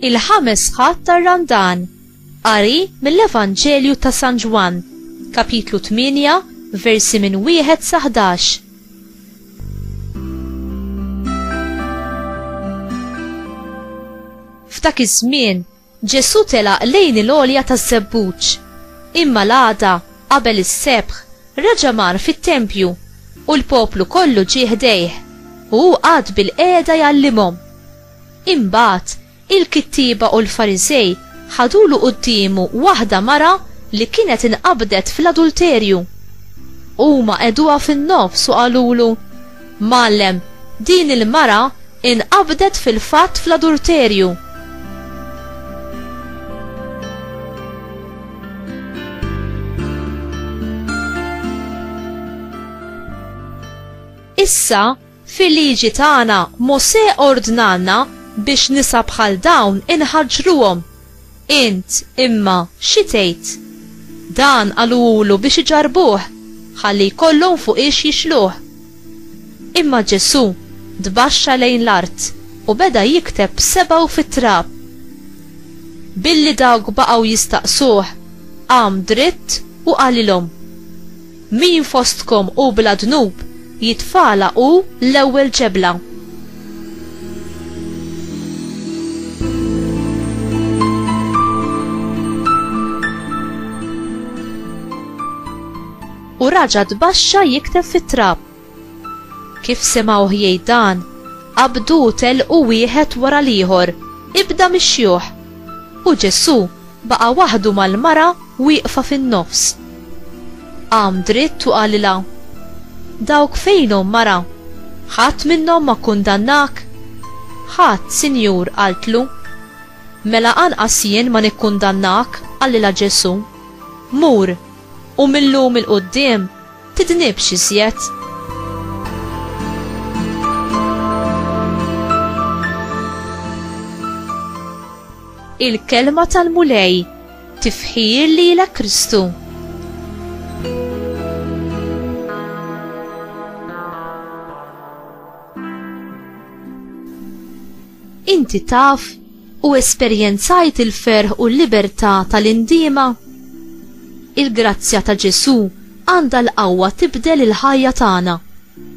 il-ħames ħadd tar-Randan, qari mill-Evanġelju ta' San Ġwann, kapitlu 8, versi minn wieħed sa 11. F'dak iż-żmien, Ġesù telaq lejn il-għolja taż-żebbuġ. Imma l-għada, qabel is-sebħ, reġa' mar fit-tempju u l-poplu kollu ġie ħdejh u hu qagħad bilqiegħda jgħallimhom. Imbagħad, il-kittieba u l-Fariżej ħadulu quddiemu waħda mara li kienet inqabdet fl-adulterju. Huma qegħduha fin-nofs u qalulu, Mgħallem, din il-mara inqabdet fil-fatt fl-adulterju. Issa, Fil-Liġi tagħna, Mosè ordnalna biex nisa bħal dawn inħaġġruhom. Int, imma, xi tgħid? Dan qaluhulu biex iġarrbuh, ħalli jkollhom fuqiex jixluh. Imma Ġesù tbaxxa lejn l-art u beda jikteb b'sebgħu fit-trab. Billi dawk baqgħu jistaqsuh, qam dritt u qalilhom. Min fostkom hu bla dnub, jitfagħalha hu l-ewwel ġebla. U raġa' tbaxxa jikteb fit-trab. Kif semgħuh jgħid dan, qabdu u telqu wieħed wara l-ieħor, ibda mix-xjuħ. U Ġesù baqa' waħdu mal-mara wieqfa fin-nofs. Qam dritt u qalilha, Dawk fejnhom, mara? Ħadd minnhom ma kkundannak? Ħadd, Sinjur, qaltlu. Mela anqas jien ma nikkundannak, qalilha Ġesù. Mur, u mil-lum 'il quddiem Tidnibx iżjed. Il-kelma tal-Mulej tifħir lilek Kristu. Inti taf u esperjenzajt il-ferħ u l-libertà tal-indiema? Il-grazzja ta' Ġesù għandha l-qawwa tibdel il-ħajja tagħna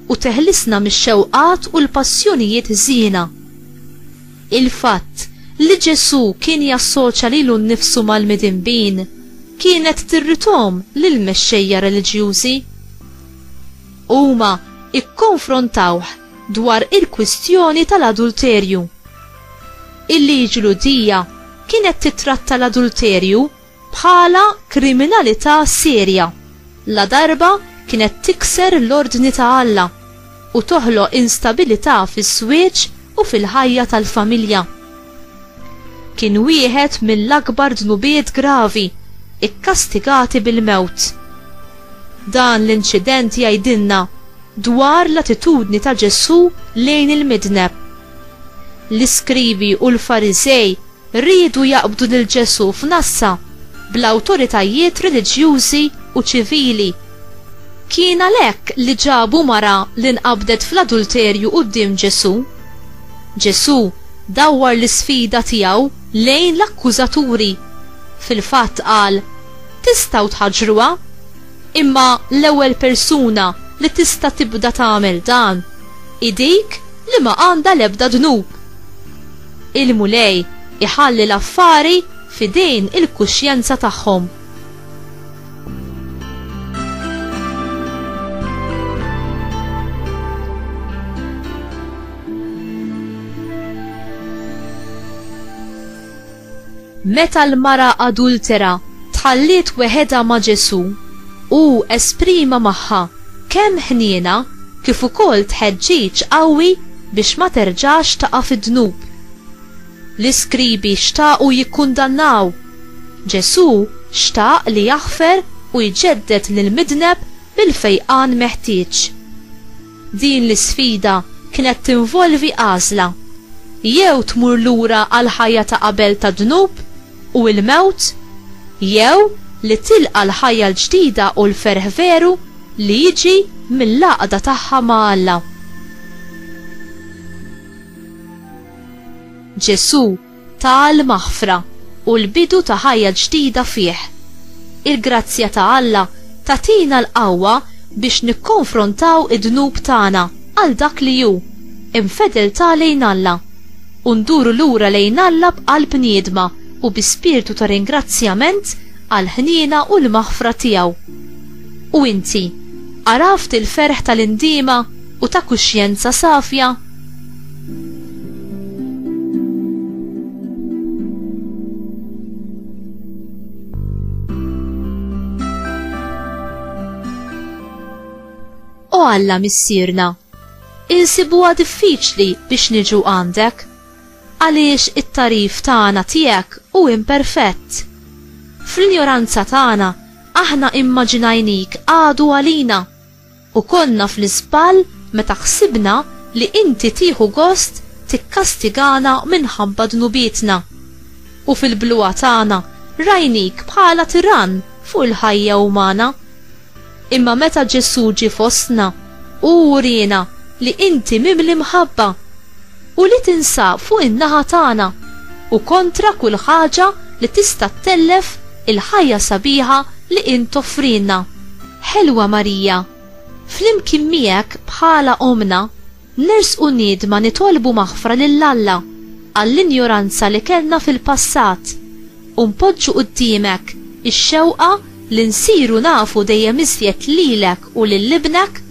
u teħlisna mix-xewqat u l-passjonijiet ħżiena. Il-fatt li Ġesù kien jassoċja lilu nnifsu mal-midinbin kienet tirridhom lill-mexxejja reliġjużi. Huma kkonfrontawh dwar il-kwistjoni tal-adulterju. Il-liġi Lhudija kienet tittratta l-adulterju bħala kriminalità serja, la darba kienet tikser l-ordni ta' Alla u toħloq instabilità fiż-żwieġ u fil-ħajja tal-familja. Kien wieħed mill-akbar dnubiet gravi, ikkastigati bil-mewt. Dan l-inċident jgħidilna dwar l-attitudni ta' Ġesù lejn il-midneb. L-iskrivi u l-Fariżej riedu jaqbdu lil Ġesù f'nassa bl-awtoritajiet reliġjużi u ċivili, Kien għalhekk li ġabu mara li nqabdet fl-adulterju quddiem Ġesù. Ġesù dawwar l-isfida tiegħu lejn l-akkużaturi. Fil-fatt qal, Tistgħu tħaġġruha. Imma l-ewwel persuna li tista' tibda tagħmel dan hi dik li ma għandha l-ebda dnub. Il-Mulej iħalli l-affari f'idejn il-kuxjenza tagħhom. Meta l-mara adultera tħalliet weħedha ma' Ġesù, hu esprima magħha kemm ħniena kif ukoll tħeġġiġ qawwi biex ma terġax taqa' fid-dnub. L-iskribi xtaqu jikkundannaw. Ġesù xtaq li jaħfer u jġedded lill-midneb bil-fejqan meħtieġ. Din l-isfida kienet tinvolvi għażla, jew tmur lura għall-ħajja ta' qabel tad-dnub u l-mewt, jew li tilqa' l-ħajja l-ġdida u l-ferħ veru li jiġi mill-għaqda tagħha ma' Alla. Ġesù ta l-maħfra u l-bidu ta' ħajja ġdida fih. Il-grazzja ta' Alla tagħtina l-qawwa biex nikkonfrontaw id-dnub tagħna għal dak li hu, infedeltà lejn Alla, u nduru lura lejn Alla b'qalb niedma u bi spirtu ta' ringrazzjament għall-ħniena u l-maħfra tiegħu. U inti, għaraft il-ferħ ta' l-indiema u ta' kuxjenza safja? O Alla missierna, insibuha diffiċli biex niġu għandek, għaliex it-tarif tagħna tiegħek u imperfett. Fl-injoranza tagħna aħna immaġinajnik għadu għalina U konna fl-iżball meta ħsibna li Inti tieħu gost tikkastigana minħabba dnubietna. U fil-bluha tagħna rajnik bħala tirann fuq il-ħajja umana. Imma meta Ġesù ġie fostna, hu wriena li Inti mimli mħabba. u li tinsab fuq in-naħa tagħna u kontra kull ħaġa li tista' ttellef il-ħajja sabiħa li int toffrilna. Ħelwa Marija, flimkien miegħek bħala Ommna, nersqu niedma nitolbu maħfra lil Alla għall-injoranza li kellna fil-passat u npoġġu quddiemek ix-xewqa li nsiru nafu dejjem iżjed lilek u lil Ibnek,